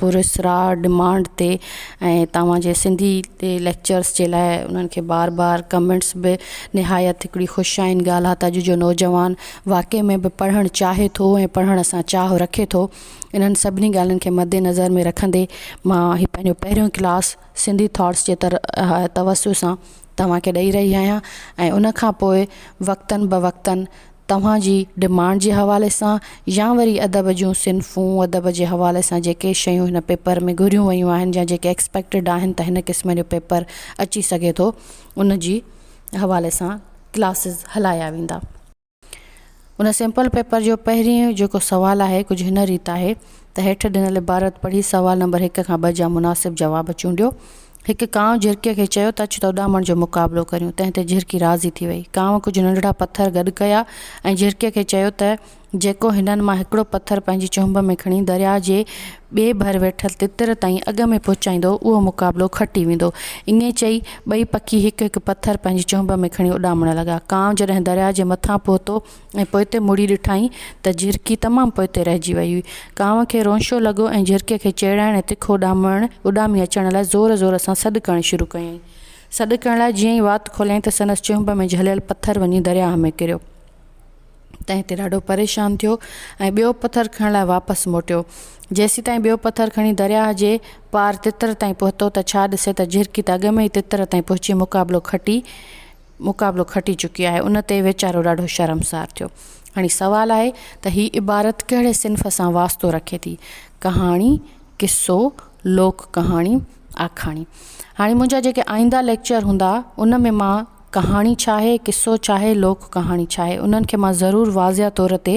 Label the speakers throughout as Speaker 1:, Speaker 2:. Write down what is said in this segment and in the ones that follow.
Speaker 1: پراسرار ڊمانڊ تي ۽ توهان جي سنڌي تي ليڪچرس جي لاء انهن کي بار بار ڪمينٽس به نهايت هڪڙي خوش آئين ڳالهه آهي ته اڄ جو نوجوان واقعي ۾ به پڙهڻ چاهي ٿو ۽ پڙهڻ سان چاهه رکي ٿو انهن سڀني ڳالهين کي مد نظر ۾ رکندي مان هي پنهنجو پهريون ڪلاس سنڌي ٿاٽس جي تر توسط سان توهان کي ڏئي رهي آهيان ۽ ان کان پوء وقتن به وقتن توهان جي ڊمانڊ جي حوالي سان يا وري ادب جون صنفون ادب جي حوالي سان جيڪي شيون هن پيپر ۾ گهريون ويون آهن يا جيڪي ايڪسپيڪٽيڊ آهن ته هن قسم جو پيپر اچي سگهي ٿو ان جي حوالي سان ڪلاسز هلايا ويندا ان سيمپل پيپر جو پهرين جيڪو سوال آهي ڪجهه هن ريت آهي ته هيٺ ڏنل عبارت پڙهي سوال نمبر هڪ کان ٻه جا مناسب جواب چونڊيو هڪ ڪانء جهرڪيء کي چيو ته اچ ته اڏامڻ جو مقابلو ڪريون، تنهن تي جهرڪي راضي ٿي وئي. ڪانء ڪجهه ننڍڙا پٿر گڏ ڪيا ۽ جهرڪيء کي چيو ته جيڪو هنن مان هڪڙو پٿر پنهنجي چهنب ۾ کڻي درياء جي ٻئي ڀر ويٺل تتر تائين اڳ ۾ پهچائيندو، اهو مقابلو کٽي ويندو. ائين چئي، ٻئي پکي هڪ هڪ پٿر پنهنجي چهنب ۾ کڻي اڏامڻ لڳا. ڪانء جڏهن درياء جي مٿان پهتو ۽ پوئتي مڙي ڏٺائين ته جهرڪي تمام پوئتي رهجي ويئي هئي. ڪانء کي رونشو لڳو ۽ جهرڪي کي چيڙائڻ ۽ تکو اڏامڻ اڏامي اچڻ لاء زور زور سان سڏ ڪرڻ شروع ڪيائين. سڏ ڪرڻ لاء جيئن ئي وات کوليائين ته سندس چهنب ۾ جهليل پٿر وڃي درياهه ۾ ڪريو. تنهن تي ڏاڍو پريشان ٿيو ۽ ٻيو پٿر کڻڻ لاء واپس موٽيو. جيسيتائين ٻيو پٿر کڻي درياهه جي پار تتر تائين پهتو ته ڇا ڏسي ته جهرڪي ته اڳ ۾ ئي تتر تائين پهچي مقابلو کٽي مقابلو کٽي چڪي آهي ان تي ويچارو ڏاڍو شرمسار ٿيو. هاڻي سوال آهي ته هي عبارت ڪهڙي صنف سان واسطو رکي ٿي، ڪهاڻي، قصو، لوڪ ڪهاڻي، آکاڻي. هاڻي منهنجا جيڪي آئينده ليڪچر هوندا ان ۾ مان ڪهاڻي ڇا آهي، قصو ڇا آهي، لوڪ ڪهاڻي ڇا آهي انهن کي مان ضرور واضح طور تي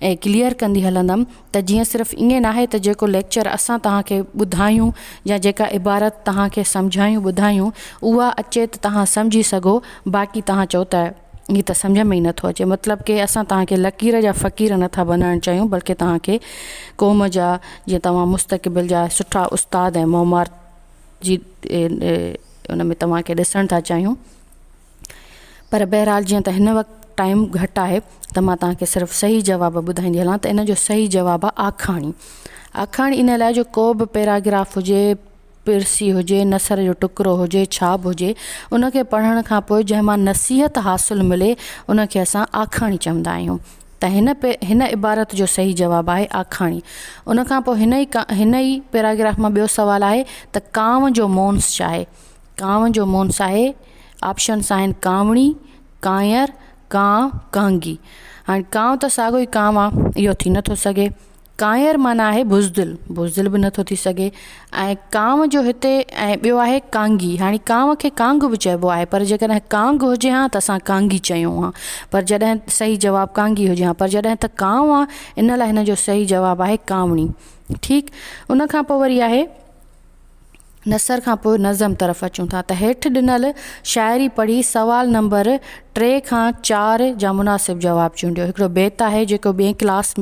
Speaker 1: ۽ ڪليئر ڪندي هلندم ته جيئن صرف ائين ناهي ته جيڪو ليڪچر اسان توهان کي ٻڌايون يا جيڪا عبارت توهان کي سمجهايون ٻڌايون اها اچي ته توهان سمجهي سگهو باقي توهان چئو ته هي ته سمجهه ۾ ئي نٿو اچي مطلب ڪي اسان توهان کي لڪير جا فقير نٿا بنائڻ چاهيون بلڪه توهان کي قوم جا جيئن توهان مستقبل جا سٺا استاد ۽ معمار جي ان ۾ توهان کي ڏسڻ ٿا چاهيون. پر بهرحال جيئن ته هن وقت ٽائيم گهٽ آهي ته مان توهان کي صرف صحيح جواب ٻڌائيندي هلان ته ان جو صحيح جواب آهي آکاڻي. آکاڻي ان لاء جو ڪو به پيراگراف هجي، پرسي هجي، نثر جو ٽڪرو هجي، ڇا به هجي، ان کي پڙهڻ کان پوء جنهن مان نصيحت حاصل ملي ان کي اسان آکاڻي چوندا آهيون ته هن هن عبارت جو صحيح جواب آهي آکاڻي. ان کان پوء هن ئي هن ئي پيراگراف مان ٻيو سوال آهي ته ڪانء جو مونس چاهي. ڪانو جو مونس آهي آپشنس آهن ڪانوڙي ڪانئر ڪانء ڪانگي هاڻي ڪانو ته ساڳو ئي ڪانو آ اهو ٿي نٿو سگهي ڪانئر معنيٰ آهي بزدل بزدل به نٿو ٿي سگهي ۽ ڪانو جو هتي ۽ ٻيو آهي ڪانگي هاڻي ڪانو کي ڪانگ به چئبو آهي پر جي ڪڏهن ڪانگ هجي ها ته اسان ڪانگي چيون ها پر جڏهن صحيح جواب ڪانگي هجي ها پر جڏهن ته ڪانو آ ان لاء هن جو صحيح جواب آهي ڪانوڙي ٺيڪ ان کان پوء وري آهي نثر کان پوء نظم طرف اچون ٿا ته هيٺ ڏنل شاعري پڙهي سوال نمبر ٽي کان چار جا مناسب جواب چونڊيو. هڪڙو بيت آهي جيڪو ٻئي ڪلاس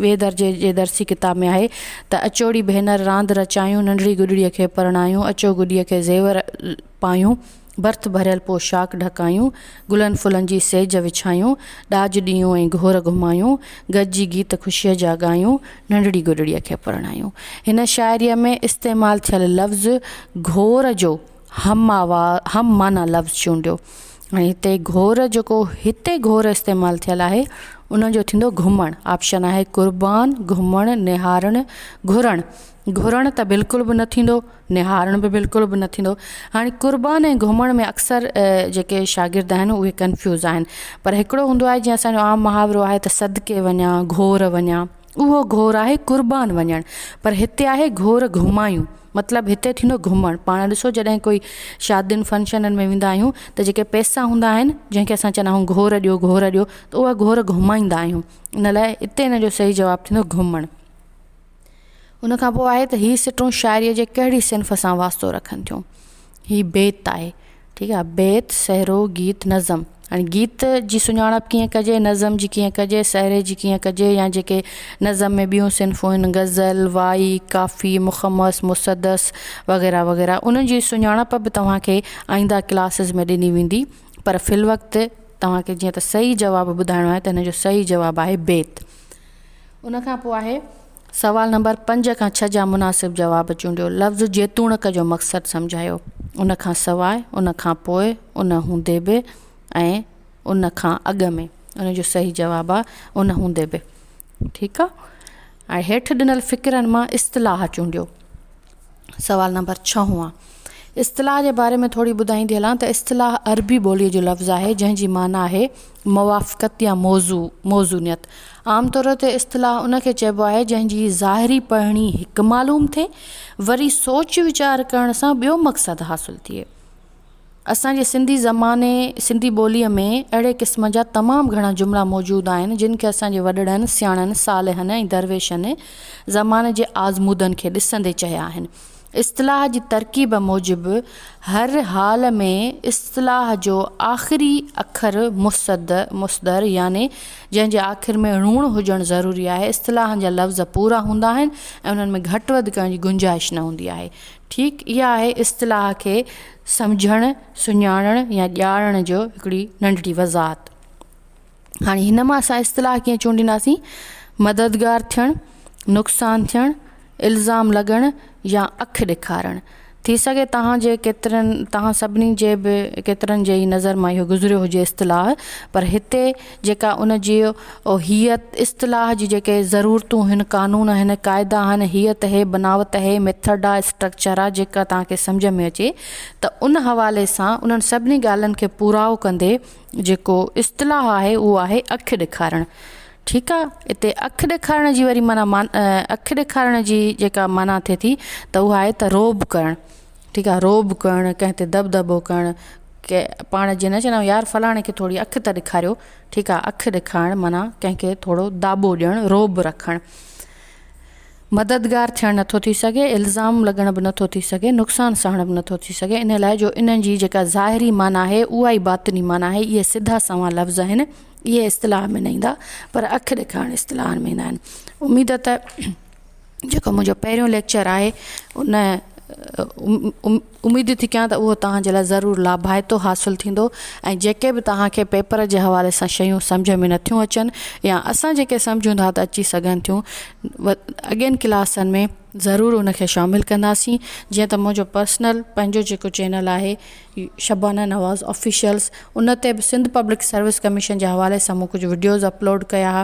Speaker 1: ٻئي درجي جي درسي ڪتاب ۾ آهي ته اچوڙي ڀينر راند رچايون ننڍڙي گڏڙي کي پرڻايون اچو گڏي کي زيور پايون. برٿ ڀريل پوشاڪ ڍڪايون، گلن ڦلن جي سيج وڇايون، ڏاج ڏيون ۽ گهور گهمايون، گڏجي گيت خوشيء جا ڳايون، ننڍڙي گڏڙيء کي پرڻايون. هن شاعريء ۾ استعمال ٿيل لفظ گهور جو هم آوا هم معنيٰ لفظ چونڊيو ۽ هتي گهور جيڪو هتي گهور استعمال ٿيل آهي ان جو ٿيندو گهمڻ آپشن آهي قربان، گهمڻ، نهارڻ، گهرڻ، گهرڻ ته بلڪل به نه ٿيندو. نهارڻ به بلڪل به نه ٿيندو. هاڻي قربان ۽ گهمڻ ۾ اڪثر جيڪي شاگرد آهن اهي ڪنفيوز آهن پر هڪڙو هوندو آهي جيئن اسان جو عام محاورو آهي ته صدقي وڃان گهور وڃان اهو گهور آهي قربان وڃڻ پر هتي آهي گهور گهمايون مطلب هتي ٿيندو گهمڻ پاڻ ڏسو جڏهن ڪوئي شادين فنڪشنن ۾ ويندا آهيون ته جيڪي پئسا هوندا آهن جنهن کي اسان چوندا آهيون گهور ڏيو گهور ڏيو ته اهي گهور گهمائيندا آهيون ان لاء هتي ان جو صحيح جواب ٿيندو گهمڻ. ان کان پوء آهي ته هي سٽون شاعريء جي ڪهڙي صنف سان واسطو رکن ٿيون. هي بيت آهي. ٺيڪ آهي. بيت، سهرو، گيت، نظم. هاڻي گيت جي سڃاڻپ ڪيئن ڪجي، نظم جي ڪيئن ڪجي، سهري جي ڪيئن ڪجي يا جيڪي نظم ۾ ٻيون صنفون آهن غزل، وائي، ڪافي، مخمس، مسدس وغيره وغيره انهن جي سڃاڻپ به توهان کي آئينده ڪلاسز ۾ ڏني ويندي پر في الوقت توهان کي جيئن ته صحيح جواب ٻڌائڻو آهي ته هن جو صحيح جواب آهي بيت. ان کان پوء آهي سوال نمبر پنج کان ڇهه جا مناسب جواب چونڊيو. لفظ جيتوڻڪ جو مقصد سمجهايو. ان کان سواء، ان کان پوء، ان هوندي به ۽ ان کان اڳ ۾. ان جو صحيح جواب آ ان هوندي به. ٺيڪ آ. هاڻي هيٺ ڏنل فقرن مان اصطلاح چونڊيو. سوال نمبر ڇهون اصطلاح جي باري ۾ ٿوري ٻڌائيندي هلان ته اصطلاح عربي ٻوليء جو لفظ آهي جنهن جي معنيٰ آهي موافقت يا موضوع، موزونيت. عام طور تي اصطلاح ان کي چئبو آهي جنهن جي ظاهري پڙهڻي هڪ معلوم ٿئي وري سوچ ويچار ڪرڻ سان ٻيو مقصد حاصل ٿئي. اسان جي سنڌي زماني سنڌي ٻوليء ۾ اهڙي قسم جا تمام گهڻا جملا موجود آهن، جن کي اسان جي وڏڙن، سياڻن، صالحن ۽ درويشن زماني جي آزمودن کي ڏسندي چيا آهن. اصطلاح جي ترڪيب موجب هر حال ۾ اصطلاح جو آخري اکر مصد، مصدر، يعني جنهن جي آخر ۾ ڻوڻ هجڻ ضروري آهي، اصطلاحن جا لفظ پورا هوندا آهن ۽ انهن ۾ گهٽ وڌ ڪرڻ جي گنجائش نه هوندي آهي. ٺيڪ اها آهي اصطلاح کي سمجهڻ، سڃاڻڻ يا ڄاڻڻ جو هڪڙي ننڍڙي وضاحت. هاڻي هن مان اسان اصطلاح ڪيئن چونڊينداسين؟ مددگار ٿيڻ، نقصان ٿيڻ، الزام لڳڻ يا اک ڏيکارڻ. ٿي سگهي توهان جي ڪيترن توهان سڀني جي به ڪيترن جي ئي نظر مان اهو گذريو هجي اصطلاح پر هتي جيڪا ان جي هيء اصطلاح جي جيڪي ضرورتون هن قانون آهن قاعدا آهن هيء تهي بناوت تهي ميٿڊ آ اسٽرڪچر آ جيڪا توهان کي سمجهه ۾ اچي ته ان حوالي سان انهن سڀني ڳالهين کي پورائو ڪندي جيڪو اصطلاح آهي اهو آهي اک ڏيکارڻ ٺيڪ آ اتي اک ڏيکارڻ جي وري معنيٰ اک ڏيکارڻ جي جيڪا معنيٰ ٿئي ٿي ته اهو آهي ته روب ڪرڻ ٺيڪ آ رعب ڪرڻ ڪنهن تي دٻدٻو ڪرڻ ڪي پاڻ جي نه چوندايون يار فلاڻي کي ٿوري اک ته ڏيکاريو ٺيڪ آ اک ڏيکارڻ معنيٰ ڪنهن کي ٿورو داٻو ڏيڻ رعب رکڻ مددگار ٿيڻ نٿو ٿي سگهي الزام لڳڻ به نٿو ٿي سگهي نقصان سهڻ به نٿو ٿي سگهي ان لاء جو انهن جي جيڪا ظاهري معنيٰ آهي اها ئي باطني معنيٰ آهي اهي سڌا سنئون لفظ آهن اهي اصطلاح ۾ نه ايندا پر اک ڏيکارڻ اصطلاحن ۾ ايندا آهن اميد ته جيڪو منهنجو پهريون ليڪچر آهي ان اميد ٿي ڪيان ته اهو توهان جي لاء ضرور لاڀائتو حاصل ٿيندو ۽ جيڪي به توهان کي پيپر جي حوالي سان شيون سمجھ ۾ نٿيون اچن يا اسان جيڪي سمجھون ٿا ته اچي سگھن ٿيون اڳين ڪلاسن ۾ ضرور ان کي شامل ڪنداسين جيئن ته منهنجو پرسنل پنهنجو جيڪو چينل آهي شبانه نواز آفيشلس ان تي به سنڌ پبلڪ سروس ڪميشن جي حوالي سان مون ڪجھ وڊيوز اپلوڊ ڪيا ھئا